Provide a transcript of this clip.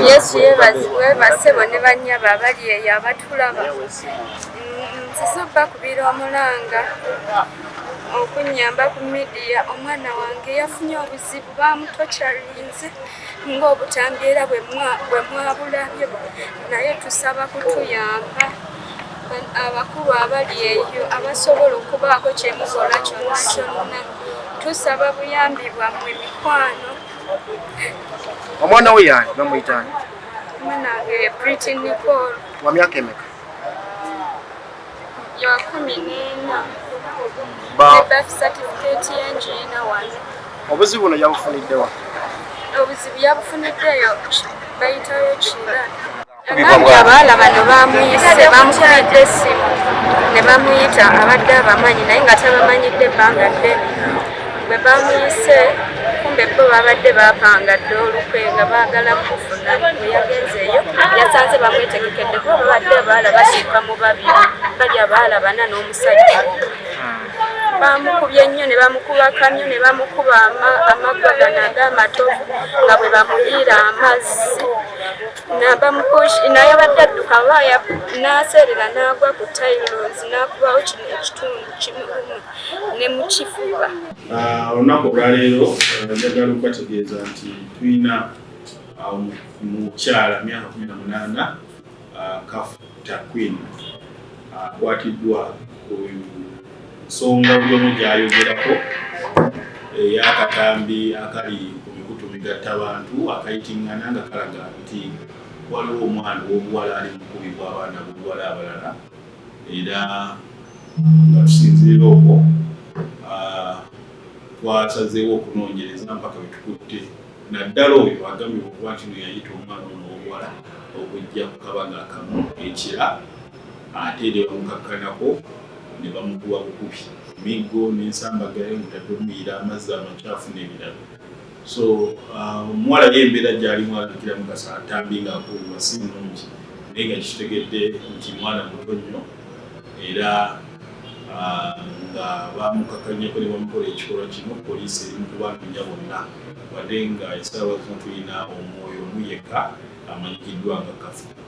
yesu yebase bone banyaba abali eyo abatulaba nsisubba kubira omulanga okunyamba ku midiya omwana wange yafunye obuzibu bamutocarinze ng'obutambi era bwe mwabulabye naye tusaba kutuyamba abakulu abali eyo abasobola okubaako kye mukola kyonna kyonna tusaba buyambi bwammwe mikwano omwana we yaani bamuyitaani mwanange priti nicol wa myaka emeka ya kumi n'ena birth certificate y'enju ena wano obuzibu buno yabufuniddewa obuzibu yabufuniddeyo bayitayo kira abandi abaala bano bamuyise bamukubidde essimu ne bamuyita abadde abamanyi naye nga tabamanyidde ebbanga ddene bwe bamuyise kumbe bo babadde bapanga dda olukwe nga baagala mufuna bwe yagenzeeyo yasanze bamwetegekedde kuba babadde abaala basiika mu babiri bali abaala bana n'omusajja bamukubye nnyo ne bamukuba kamyo ne bamukuba amaggwa gano ag'amatovu nga bwe bamuyiira amazzi naye abadde adduka baaya n'aseerera n'agwa ku tailos n'akubawo kino ekitundu kimuumu ne mu kifuba. Ah, olunaku olwaleero eh, njagala okubategeeza nti tulina ah, mukyala myaka kumi na munaana ah, kafu takwin akwatiddwa ku nsonga byomu gyayogerako eyakatambi eh, akali ku mikutu migatta bantu akayitingana nga kalaga nti waliwo omwana owobuwala ali mukubibwa abaana bobuwala abalala era nga tusinziira okwo twasazeewo okunoonyereza mpaka wetukutte naddala oyo agambye okuba nti no yayita omwana ono omuwala okujja ku kabaga akamu ekira ate ne bamukakkanako ne bamukuba bukubi miggo n'ensambagayo mutadde omuyira amazzi amakyafu n'ebirala so uh, omuwala um, yembeera gyali mwalakira mukasa atambi nga akuuwa si mulungi naye nga kitegedde nti mwana muto nnyo era uh, nga bamukakanyako ne bamukola ekikolwa kino poliisi eri mukubanoonya bonna wadde nga esalawa zino tulina omwoyo omu yekka amanyikiddwa nga kafu